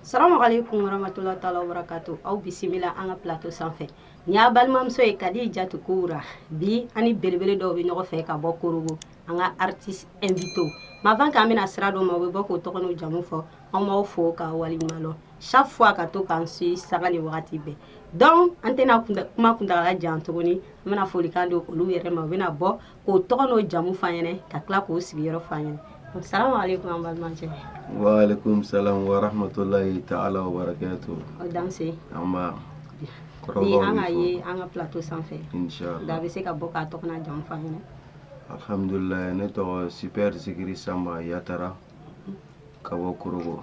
Salamu alaikum warahmatullahi taala wabarakatu aw bisimila an ka plateau sanfɛ nin y'aw balimamuso ye Kadijatu Kowura bi an ni belebele dɔw bɛ ɲɔgɔn fɛ ka bɔ korogo an ka artiste invité avant k'an bɛna sira dɔ ma u bɛ bɔ k'o tɔgɔ n'u jamu fɔ an b'aw fo k'aw waleɲuman lɔn chaque fois ka to k'an suivi sanga ni wagati bɛɛ donc an tɛna kuma kuntagala jan tuguni an bɛna folikan di olu yɛrɛ ma u bɛna bɔ k'o tɔgɔ n'o jamu f'an ɲɛnɛ ka tila k'o sigiyɔrɔ f'an ɲɛnɛ salamu aleykum an balimakɛ waaleykum salam warahmatulahi taala wabarakatu o danse nba ni an ka ye an ka plateau sanfɛ da bɛ se ka bɔ k'a tɔgɔ n'a jamu f'an ɲɛnɛ alhamdulilayi ne tɔgɔ super zikiri sanba yatara ka bɔ korogo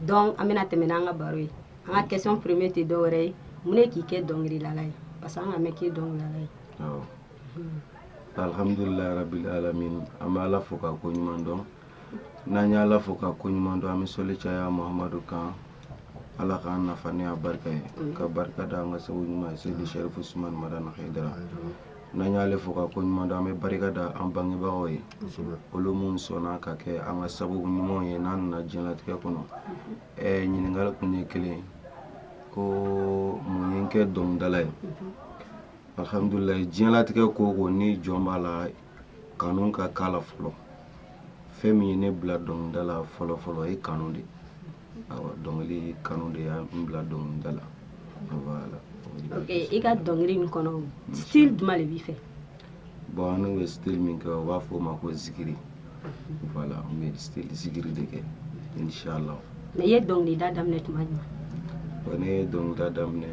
donc an bɛna tɛmɛ n'an ka baro ye an ka question première tɛ dɔwɛrɛ ye mun ne k'i kɛ dɔnkililala ye parce que an ka mɛn k'i dɔnkililala ye awɔ alihamdulilahi rabil alamin an bɛ ala fo ka ko ɲuman dɔn n'an y' ala fo ka ko ɲuman dɔn an bɛ soli caya mamadu kan ala k'an nafa n'a barika ye ka barika da an ka seku ɲuman ye Seyidi Sherifu Usumani Madani Hayidara N'an y'ale fo ka ko ɲuman dɔn an bɛ barika da an bangebagaw ye olu minnu sɔnna ka kɛ an ka sababu ɲumanw ye n'an nana jiɲɛlatigɛ kɔnɔ ɛ ɲininkali kun ye kelen ko mun ye n kɛ dɔnkilidala ye alihamdulila jiɲɛlatigɛ ko o ko ni jɔn b'a la kanu ka k'a la fɔlɔ fɛn min ye ne bila dɔnkilida la fɔlɔfɔlɔ ye kanu de awɔ dɔnkili kanu de y'an bila dɔnkili da la voilà ok i ka dɔnkili nin kɔnɔ style jumɛn de b'i fɛ bon anw bɛ style min kɛ u b'a fɔ o ma ko zikiri voilà n bɛ style zikiri de kɛ inshallah mais i ye dɔnkilida daminɛ tuma jumɛn bon ne ye dɔnkilida daminɛ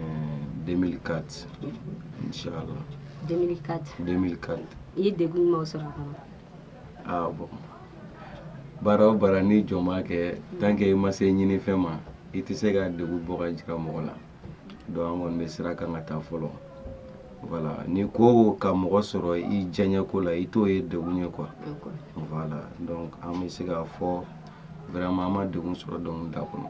2004 inshallah 2004 2004 i ye degun jumɛnw sɔrɔ a kɔnɔ aa bon baara o baara ni jɔn b'a kɛ tant que i ma se ɲinifɛn ma i tɛ se ka degun bɔ ka jira mɔgɔ la donc an kɔni bɛ sira kan ka taa fɔlɔ voilà ni ko ka mɔgɔ sɔrɔ i diyaɲɛko la i t'o ye degun ye quoi voilà donc an bɛ se k'a fɔ vraiment an ma degun sɔrɔ dɔnkilida kɔnɔ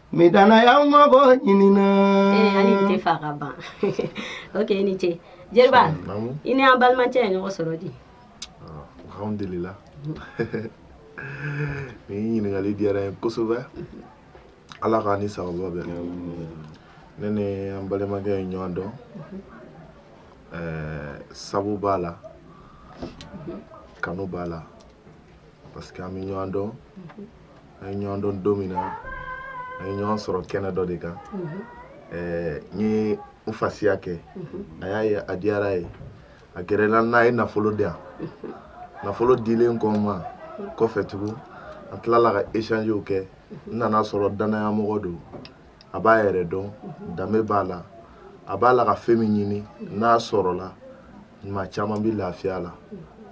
Ni danaya ma bɔ ɲini na a ɲini tɛ fa ka ban ok i ni ce jeliba i ni an balimakɛ ye ɲɔgɔn sɔrɔ di alihamdulila nin ɲininkali diyara n ye kosɛbɛ ala k'an ni sababa bɛn ne ni an balimakɛ ye ɲɔgɔn dɔn sabu b'a la kanu b'a la parce que an bɛ ɲɔgɔn dɔn an ye ɲɔgɔn dɔn don min na an ye ɲɔgɔn sɔrɔ kɛnɛ dɔ de kan ɛɛ n ye n fasiya kɛ a y'a ye a diyara a ye a gɛrɛla n'a ye nafolo di yan nafolo dilen kɔ n ma kɔfɛ tugun an tilala ka échangew kɛ n nana sɔrɔ dannayamɔgɔ don a b'a yɛrɛ dɔn danbe b'a la a b'a la ka fɛn min ɲini n'a sɔrɔla maa caman bɛ lafiya la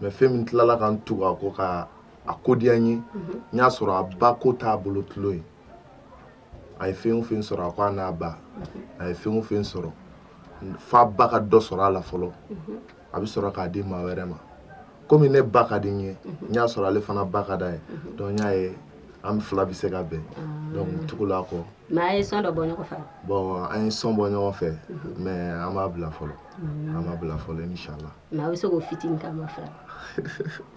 mais fɛn min tilala ka n tugu a kɔ ka a ko diya n ye n y'a sɔrɔ a ba ko t'a bolo tulon ye a ye fɛn o fɛn sɔrɔ a ko a n'a ba a ye fɛn o fɛn sɔrɔ f'a ba ka dɔ sɔrɔ a la fɔlɔ a bɛ sɔrɔ k'a di maa wɛrɛ ma komi ne ba ka di n ye n y'a sɔrɔ ale fana ba ka d'a ye donc n y'a ye an fila bɛ se ka bɛn donc tugula a kɔ mais a ye son dɔ bɔ ɲɔgɔn fɛ bon an ye son bɔ ɲɔgɔn fɛ mais an b'a bila fɔlɔ an b'a bila fɔlɔ inshallah mais a bɛ se k'o fitinin k'a ma fila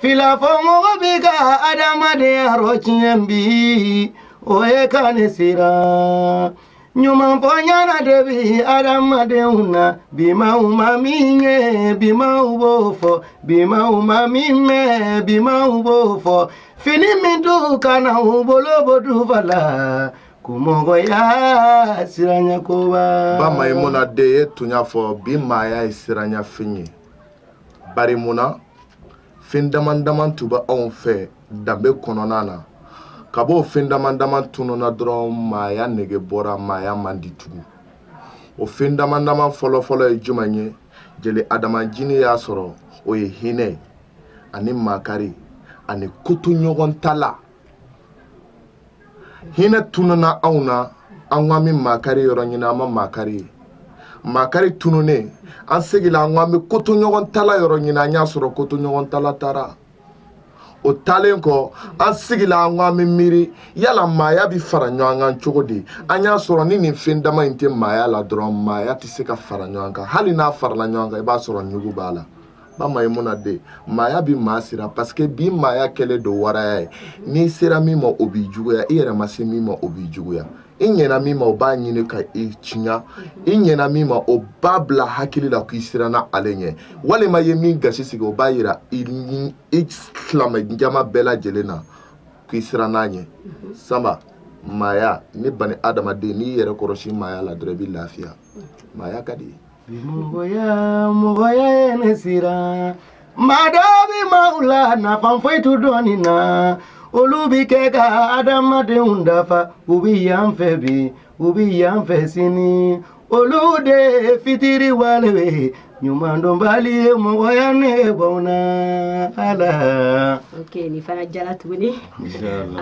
Filafɔmɔgɔ bɛ ka adamadenya rɔtiɲɛ bi o ye ka ne siran ɲumanfɔ ɲɛna de bɛ adamadenw na bi maaw ma min ye bi maaw b'o fɔ bi maaw ma min mɛn bi maaw b'o fɔ fini min t'u kan na u bolo b'o dufa la ko mɔgɔya siranya ko ba Maimuna de ye tuɲa fɔ bi maaya ye siranyafɛn ye bari munna fɛn dama dama tun bɛ anw fɛ danbe kɔnɔna na kab'o fɛn dama dama tununna dɔrɔn maaya nege bɔra maaya man di tugun o fɛn dama dama fɔlɔfɔlɔ ye jumɛn ye jeli adamajini y'a sɔrɔ o ye hinɛ ye ani makari ani kotoɲɔgɔntala hinɛ tununna anw na an k'an bɛ makari yɔrɔ ɲini an ma makari ye makari tununnen an seginna an k'an bɛ kotoɲɔgɔntala yɔrɔ ɲini an y'a sɔrɔ kotoɲɔgɔntala taara o taalen kɔ an seginna an k'an bɛ miiri yala maaya bɛ fara ɲɔgɔn kan cogo di an y'a sɔrɔ ni nin fɛn dama in tɛ maaya la dɔrɔn maaya tɛ se ka fara ɲɔgɔn kan hali n'a farala ɲɔgɔn kan i b'a sɔrɔ ɲugun b'a la ba Maimuna de maaya bɛ maa siran parce que bi maaya kɛlen don waraya ye n'i sera min ma o b'i juguya i yɛrɛ ma se min ma o b'i juguya i ɲɛna min ma o b'a ɲini ka i tiɲa i ɲɛna min ma o b'a bila hakili la k'i siranna ale ɲɛ walima i ye min gasi sigi o b'a yira i ni i silamɛ jama bɛɛ lajɛlen na k'i siranna a ɲɛ sanba maaya ni bani adamaden n'i yɛrɛ kɔrɔsi maaya la dɔrɔn i bɛ lafiya maaya ka di mɔgɔya mɔgɔya ye ne siran maa dɔ bɛ maaw la nafa foyi t'u dɔnni na olu bɛ kɛ ka adamadenw dafa u bɛ yan fɛ bi u bɛ yan fɛ sini olu de ye fitiriwale ye ɲumandɔnbali ye mɔgɔya ne bɔn na ala ok nin fana diyala tuguni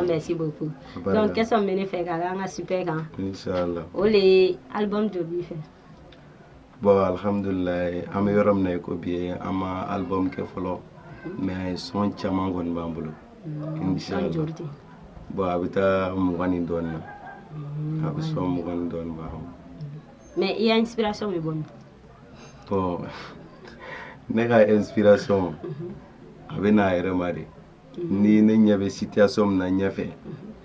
merci beaucoup donc question bɛ ne fɛ ka an ka Super kan inshallah o le ye album joli b'i fɛ bon alhamdulilayi an bɛ yɔrɔ min na i ko bi ye an ma album kɛ fɔlɔ mais son caman kɔni b'an bolo mm, inshallah bon a bɛ taa mugan ni dɔɔnin na mm. a bɛ son mugan ni dɔɔnin b'a kɔnɔ mais i ya inspiration bɛ bɔ min bon ne ka inspiration mhm. a bɛ n'a yɛrɛ ma de ni ne ɲɛ bɛ situation min na ɲɛfɛ n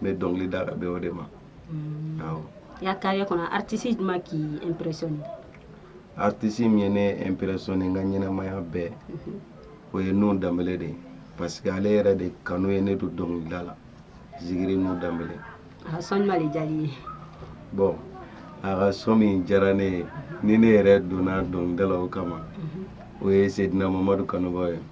bɛ dɔnkili da ka bɛn o de ma awɔ i ka carrière kɔnɔ artiste jumɛn k'i impressionné artiste min ye ne impressionné n ka ɲɛnamaya bɛɛ o ye Nuhun Danbele de ye parce que ale yɛrɛ de kanu ye ne don dɔnkilida la Zikiri Nuhun Danbele a ka son jumɛn de diyar'i ye bon a ka son min diyara ne ye ni ne yɛrɛ donna dɔnkilida la o kama o ye Seydina Mamadu kanubaaw ye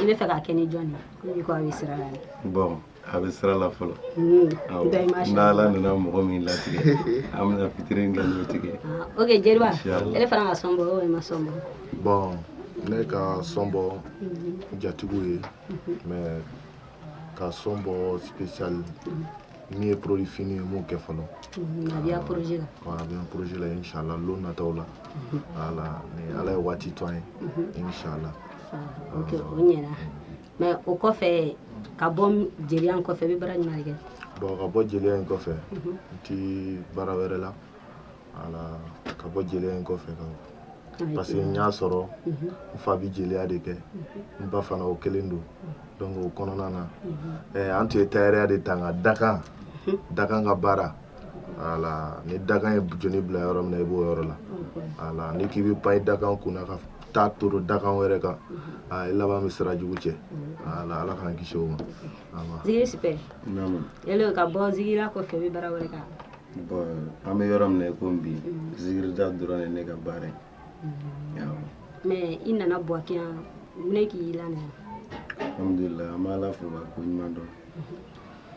i bɛ fɛ ka kɛ ni jɔn ye ko a bɛ sira la bon a bɛ sira la fɔlɔ n'ala nana mɔgɔ min latigɛ an bɛna featuring kɛ n'o tigi ye ok jeliba ele fana ka son bɔ o ma son bɔ bon ne ka son bɔ jatigiw ye mais ka son bɔ spécial min ye produit fini ye n m'o kɛ fɔlɔ a bɛ projet la a bɛ projet la inshala lon nataw la voilà ni ala ye waati to an ye inshala o ɲɛna mais o kɔfɛ ka bɔ jeliya kɔfɛ i bɛ baara jumɛn kɛ bon ka bɔ jeliya in kɔfɛ n tɛ baara wɛrɛ la ka bɔ jeliya in kɔfɛ kan parce que n y'a sɔrɔ mhm. n fa bɛ jeliya de kɛ mhm. n ba fana o kelen don donc o kɔnɔna na eh, an tun ye tayɛrɛya de ta nka dakan mhm. dakan ka baara voilà ni dakan ye jɔni bila yɔrɔ min na i b'o yɔrɔ la voilà n'i k'i bɛ pan i dakan kunna ka taa turu dakan wɛrɛ kan i laban bɛ sira jugu cɛ voilà ala k'an kisi o ma. zigiri Super. yala ka bɔ zigiriya kɔfɛ i bɛ baara wɛrɛ kan. an bɛ yɔrɔ min na i ko bi zigirida dɔrɔn ye ne ka baara ye mais i nana buwakɛ yan mun de k'i lana alhamdulilayi an b'ala fo k'a ko ɲuman dɔn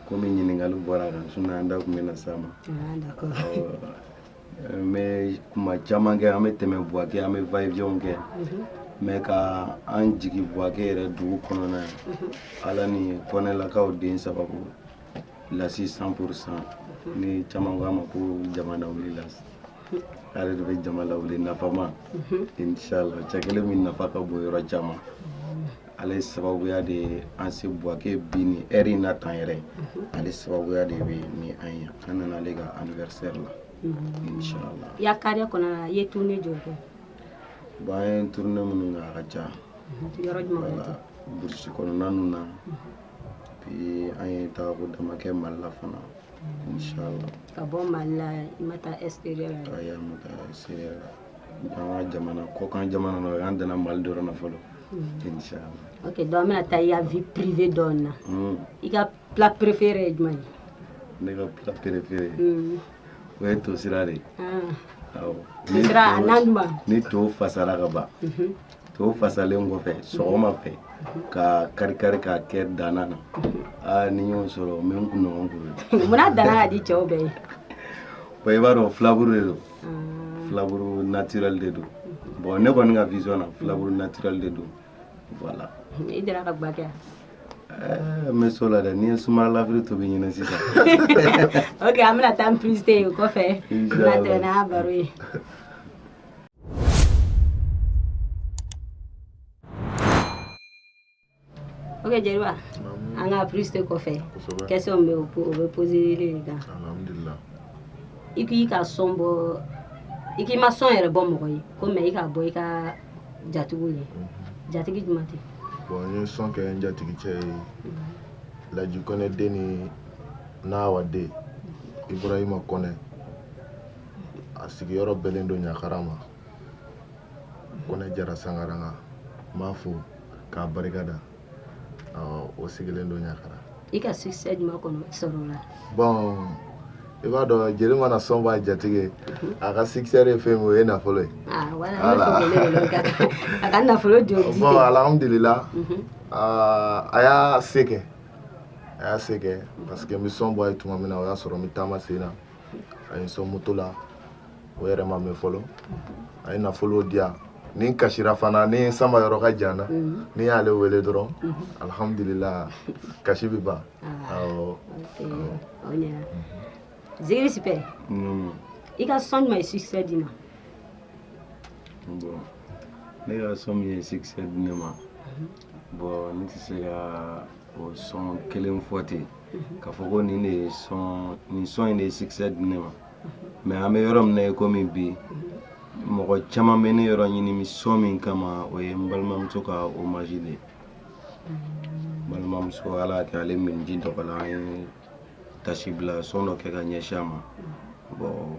kɔmi ɲininkali bɔra la sinon an da tun bɛ na s'a ma n bɛ kuma caman kɛ an bɛ tɛmɛ buwakɛ an bɛ va-et-vient kɛ mais ka an jigi buwakɛ yɛrɛ dugu kɔnɔna yan ala ni kɔnɛlakaw de sababu lasi cent pour cent ni caman k'a ma ko jama lawulila ale de bɛ jama lawuli nafama inchallah cɛ kelen min nafa ka bon yɔrɔ caman ale sababuya de ye an se buwake bi ni heure in na tan yɛrɛ ale sababuya de bɛ ni an ye an nana ale ka anniversaire la inchallah i ya carrière kɔnɔ i ye tournée joli kɛ bon an ye tournée minnu kɛ a ka ca yɔrɔ burusi kɔnɔna na Puis an ye taako dama kɛ Mali la fana inchallah ka bɔ Mali la i ma taa extérieur la ayi an ma taa extérieur la donc an ka jamana kɔkan jamana na an danna Mali dɔrɔn na fɔlɔ inchallah ok donc an bɛna taa i ka vie privée dɔɔni na i ka plat préféré ye jumɛn ye ne ka plat préféré o ye tosira de ye awɔ tosira a na duman ni to fasara ka ban To fasalen kɔfɛ sɔgɔma fɛ k'a kari kari k'a kɛ dana na aa ni n y'o sɔrɔ n bɛ n kun ɲɔgɔn kuru munna dana ka di cɛw bɛɛ ye bon i b'a dɔn filaburu de don filaburu naturel de don bon ne kɔni ka vision na filaburu naturel de don voilà i deli ka gba kɛ n bɛ s'o la dɛ n ye sumala lafiri tobi ɲini sisan ok an bɛna taa publicité ye o kɔfɛ n bɛna tɛmɛ n'a baro ye ok jeliba an ka publicité kɔfɛ question bɛ o bɛ poser e de kan i k'i ka son bɔ i k'i ma son yɛrɛ bɔ mɔgɔ ye ko mais i k'a bɔ i ka jatigiw ye mhm. jatigi jumɛn tɛ bon n ye son kɛ n jatigi cɛ ye laji kɔnɛ den ni nawa den ibrahima kɔnɛ a sigiyɔrɔ bɛnnen don ɲakara ma kɔnɛ jara sangaranga n b'a fo k'a barika da o sigilen don ɲakara i ka succès jumɛn kɔnɔ sɔrɔ la bon i b'a dɔn jeli mana son b'a jatigi a ka succès ye fɛn min o ye nafolo ye ah, a ka nafolo joli bon alhamdulila mhm. ah, a y'a se kɛ a y'a se kɛ parce que n bɛ son bɔ a ye tuma min na o y'a sɔrɔ n bɛ taama sen na a ye n sɔn moto la o yɛrɛ ma mɛn fɔlɔ a ye nafolo di yan ni n kasira fana ni n sama yɔrɔ ka jan na mhm. ni n y'ale wele dɔrɔn mhm. alhamdulila kasi bɛ ban ah, awɔ zikiri super mm. i ka son jumɛn ye succès d'i ma ne ka son min ye succès di ne ma mhm. Bon n tɛ se ka o son kelen fɔ ten mhm. k'a fɔ ko nin de ye son nin son in de ye succès di ne ma mhm. mais an bɛ yɔrɔ min na i komi bi mhm. mɔgɔ caman bɛ ne yɔrɔ ɲini bi son min kama o ye n balimamuso ka hommage de ye balimamuso ala y'a kɛ ale minji dɔgɔla an ye tasibila son dɔ kɛ ka ɲɛsin a ma bon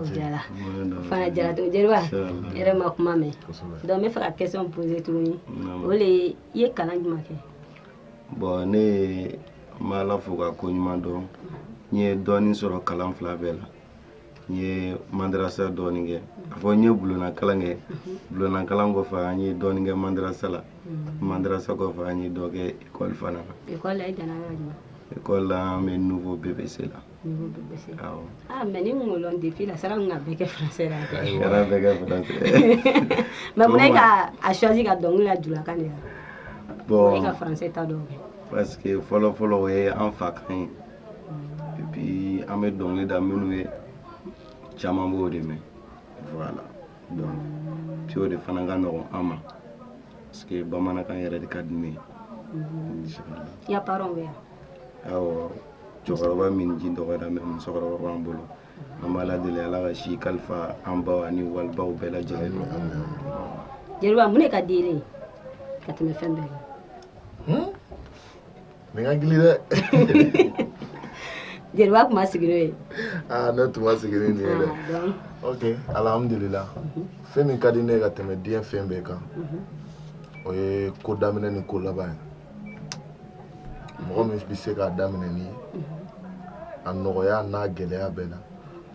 o diyara o fana diyara to jeliba i yɛrɛ ma kuma mɛn donc n bɛ fɛ ka question poser tuguni o le ye i ye kalan jumɛn kɛ bon ne ye n bɛ ala fo k'a ko ɲuman dɔn n ye dɔɔnin sɔrɔ kalan fila bɛɛ la n ye madarasa dɔɔnin kɛ a fɔ n ye bulonakalan kɛ bulonakalan kɔfɛ an ye dɔɔnin kɛ madarasa la madarasa kɔfɛ an ye dɔ kɛ ekɔli fana na ekɔli la i danna yɔrɔ jumɛn ekɔli la an bɛ niveau BEPC la Mais ni kolon de la sara ka bɛɛ kɛ mais ko ne ka a choisi ka dɔnkili la julakan de la bon ka ta dɔn parce que fɔlɔ fɔlɔ o ye an fa kan ye et puis an bɛ dɔnkili da minnu ye caman b'o de mɛn voilà donc o de fana ka nɔgɔ an ma parce que bamanankan yɛrɛ de ka di ne ye cɛkɔrɔba minji dɔgɔra mais musokɔrɔba b'an bolo an b'ala deli ala ka si kalifa an baw ani wali baw bɛɛ lajɛlen jeliba mun de ka di e ye ka tɛmɛ fɛn bɛɛ kan hmm? nin ka gili dɛ jeliba tun ma sigi n'o ye ah, ne tun ma sigi nin ye dɛ ah, ok alhamdulila mhm. fɛn min ka di ne ye ka tɛmɛ diɲɛ fɛn bɛɛ kan mhm. o ye ko daminɛ ni ko laban ye mɔgɔ min bɛ se k'a daminɛ ni a nɔgɔya n'a gɛlɛya bɛɛ na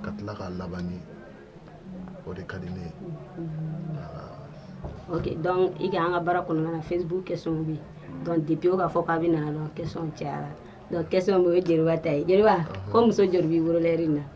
ka tila k'a laban ni o de ka di ne ye ok donc i ka an ka baara kɔnɔna na facebook question bɛ yen donc depuis o k'a fɔ k'a bɛna na dɔrɔn question cayara donc question bɛ o ye jeliba ta ye jeliba ko muso joli b'i bolo lɛri in na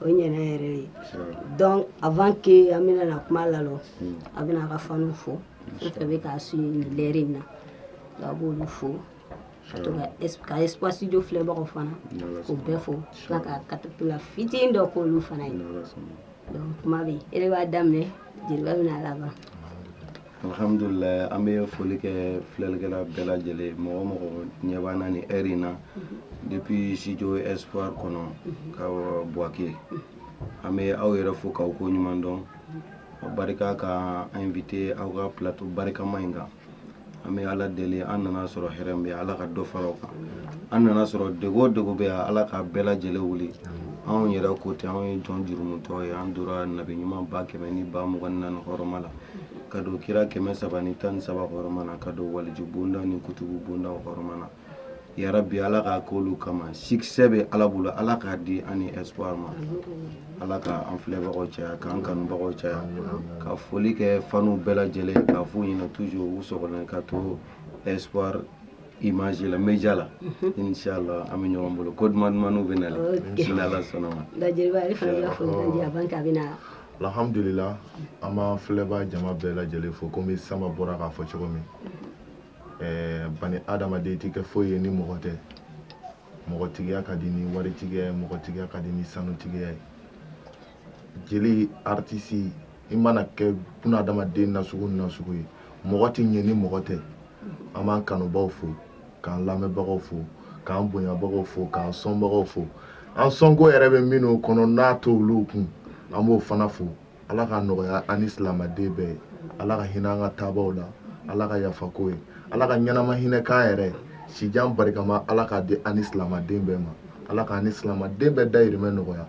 o ɲɛna yɛrɛ ye donc avant que an bɛna na kuma lalɔ hmm. a bɛna a ka faniw fo fɛn fɛn bɛ k'a su nin lɛri in na donc a b'olu fo ka to ka espoir studio filɛbagaw fana k'o bɛɛ fo tila ka a cappella fitinin dɔ k'olu fana ye donc kuma bɛ yen e de b'a daminɛ jeliba bɛna a laban Alihamdulila an bɛ foli kɛ filɛlikɛla bɛɛ lajɛlen mɔgɔ mɔgɔ ɲɛ b'an na nin heure in na depuis studio espoir kɔnɔ ka buwake an bɛ aw yɛrɛ fo k'aw ko ɲuman dɔn barika k'an invité aw ka plateau barikama in kan an bɛ ala deli an nana sɔrɔ hɛrɛ min bɛ ala ka dɔ fara o kan an nana sɔrɔ degun o degun bɛ yan ala ka bɛɛ lajɛlen wuli anw yɛrɛ ko ten anw ye jɔn jurumutɔ ye an tora nabi ɲuman ba kɛmɛ ni ba mugan ni naani hɔrɔma la ka don kira kɛmɛ saba ni tan ni saba hɔrɔma na ka don waliju bonda ni kutubu bonda hɔrɔma na yarabi ala k'a k'olu kama succès bɛ ala bolo ala k'a di an ni espoir ma ala ka an filɛbagaw caya k'an kanubagaw caya ka foli kɛ fanw bɛɛ lajɛlen k'a fɔ ɲɛna toujours u so ka to espoir image la média la inshallah an bɛ ɲɔgɔn bolo ko duman dumanw bɛ na n'ala sɔnna ma alhamdulila an b'an filɛbaa jama bɛɛ lajɛlen fo komi sama bɔra k'a fɔ cogo min bani adamaden tɛ kɛ foyi ye ni mɔgɔ tɛ mɔgɔtigiya ka di ni waritigiya ye mɔgɔtigiya ka di ni sanutigiya ye jeli aritisi i mana kɛ bunadamaden nasugu ni nasugu ye mɔgɔ tɛ ɲɛ ni mɔgɔ tɛ an b'an kanubaw fo k'an lamɛnbagaw fo k'an bonyabagaw fo k'an sɔnbagaw fo an sɔnko yɛrɛ bɛ minnu kɔnɔ n'a t'olu kun an b'o fana fo ala ka nɔgɔya an ni silamɛden bɛɛ ye ala ka hinɛ an ka taabaw la ala ka yafa k'u ye ala ka ɲɛnama hinɛ k'an yɛrɛ sijan barikama ala k'a di an ni silamɛden bɛɛ ma ala k'an ni silamɛden bɛɛ dayirimɛ nɔgɔya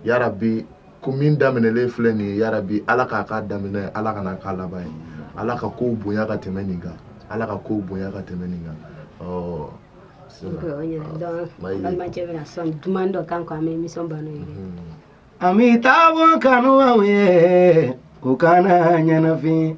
yarabi ko min daminɛlen filɛ nin ye yarabi ala k'a k'a daminɛ ye ala kan'a k'a laban ye ala ka kow bonya ka tɛmɛ nin kan ala ka kow bonya ka tɛmɛ nin kan ɔ balimakɛ bɛna son duman dɔ k'an kɔ an bɛ émission ban n'o ye an bɛ taa bɔ kanubaw ye u kana ɲɛnafin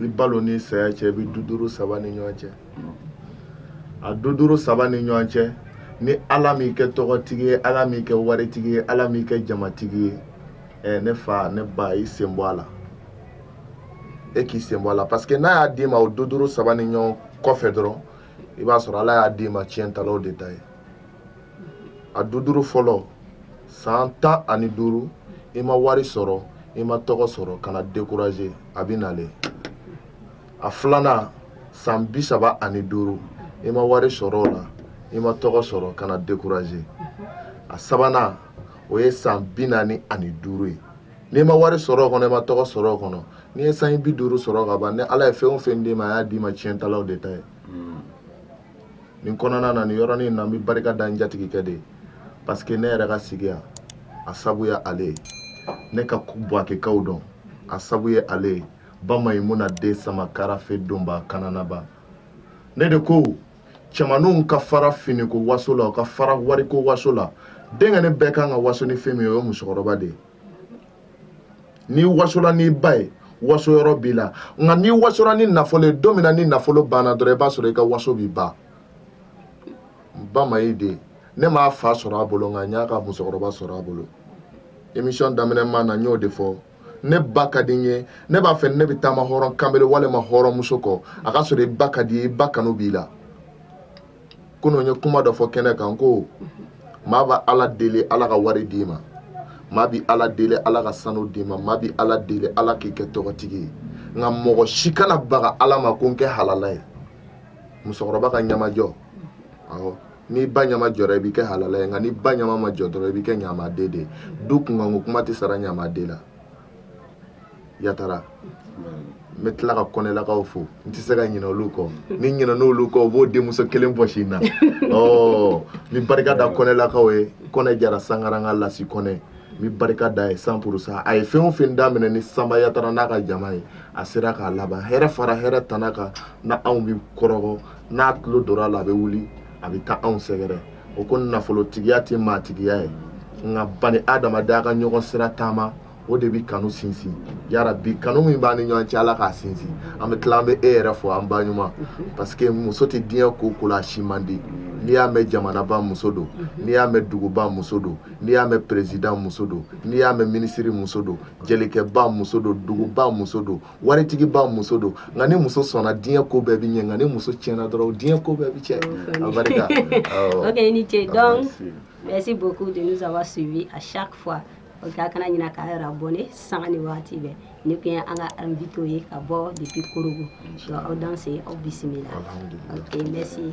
i balo n'i saya cɛ i bɛ duduru saba ni ɲɔgɔn cɛ a duduru saba ni ɲɔgɔn cɛ ni ala m'i kɛ tɔgɔtigi ye ala m'i kɛ waritigi ye ala m'i kɛ jamatigi ye ne fa ne ba i sen bɔ a la e k'i sen bɔ a la parce que n'a y'a d'i ma o duduru saba ni ɲɔgɔn kɔfɛ dɔrɔn i b'a sɔrɔ ala y'a d'i ma tiɲɛtalaw de ta ye a duduru fɔlɔ san tan ani duuru i ma wari sɔrɔ i ma tɔgɔ sɔrɔ kana décourager a bɛ nalen a filanan san bi saba ani duuru i ma wari sɔrɔ o la i ma tɔgɔ sɔrɔ kana décourager a sabanan o ye san bi naani ani duuru ye n'i ma wari sɔrɔ o kɔnɔ i ma tɔgɔ sɔrɔ o kɔnɔ n'i ye san bi duuru sɔrɔ ka ban ni ala ye fɛn o fɛn d'i ma a y'a d'i ma tiɲɛtalaw de ta ye nin kɔnɔna na nin yɔrɔnin na n bɛ barika da n jatigikɛ de ye parce que ne yɛrɛ ka sigi yan a sabu ye ale ye ne ka buwakekaw dɔn a sabu ye ale ye ba mayimuna den sama karafe donba kananaba ne de ko cɛmanw ka fara fini ko waso la u ka fara wari ko waso la denkɛnin bɛɛ kan ka waso ni fɛn min ye o ye musokɔrɔba de ye n'i wasola n'i ba ye waso yɔrɔ b'i la nka n'i wasora ni nafolo ye don min na ni nafolo banna dɔrɔn i b'a sɔrɔ i ka waso bɛ ban bamayi den ne m'a fa sɔrɔ a bolo nka n y'a ka musokɔrɔba sɔrɔ a bolo émission daminɛ ma na n y'o de fɔ ne ba ka di n ye ne b'a fɛ ne bɛ taama hɔrɔn kanbele walima hɔrɔnmuso kɔ a ka sɔrɔ i ba ka di i ba kanu b'i la kunun ye kuma dɔ fɔ kɛnɛ kan ko maa bɛ ala deli ala ka wari d'i ma maa bɛ ala deli ala ka sanu d'i ma maa bɛ ala deli ala k'i kɛ tɔgɔtigi ye nka mɔgɔ si kana baga ala ma ko n kɛ halala ye musokɔrɔba ka ɲamajɔ n'i ba ɲama jɔra i bɛ kɛ halala ye nka n'i ba ɲama ma jɔ dɔrɔn i bɛ kɛ ɲamaden de du kunkanko kuma tɛ sara ɲamaden la yatara n bɛ tila ka kɔnɛlakaw fo n tɛ se ka ɲinɛ olu kɔ ni ɲinɛna olu kɔ u b'o denmuso kelen bɔsi n na ɔ n bɛ barika da kɔnɛlakaw ye kɔnɛ jara sangaranka lasi kɔnɛ n bɛ barika da ye cent pour cent a ye fɛn o fɛn daminɛ ni sanba yatara n'a ka jama ye a sera k'a laban hɛrɛ fara hɛrɛ tana kan na anw bɛ kɔrɔgɔ n'a tulo donna a la a bɛ wuli a bɛ taa anw sɛgɛrɛ o ko nafolotigiya tɛ maatigiya ye nka bani adamadenya ka ɲɔgɔn sira taama o de bɛ kanu sinsin yarabi kanu min b'an ni ɲɔgɔn cɛ ala k'a sinsin an bɛ tila an bɛ e yɛrɛ fo an ba ɲuman parce que muso tɛ diɲɛ ko o ko la a si man di n'i y'a mɛn jamanaba muso don n'i y'a mɛn duguba muso don n'i y'a mɛn président muso don n'i y'a mɛn ministre muso don jelikɛba muso don duguba muso don waritigiba muso don nka ni muso sɔnna diɲɛ ko bɛɛ bɛ ɲɛ nka ni muso tiɲɛna dɔrɔn diɲɛ ko bɛɛ bɛ tiɲɛ abarika ok ni ce donc merci beaucoup de nous avoir suivi à chaque fois ok a kana ɲina k'a yɛrɛ abonné sanga ni wagati bɛɛ nin kun ye an ka invité ye ka bɔ depuis korogo donc aw danse aw bisimila ok merci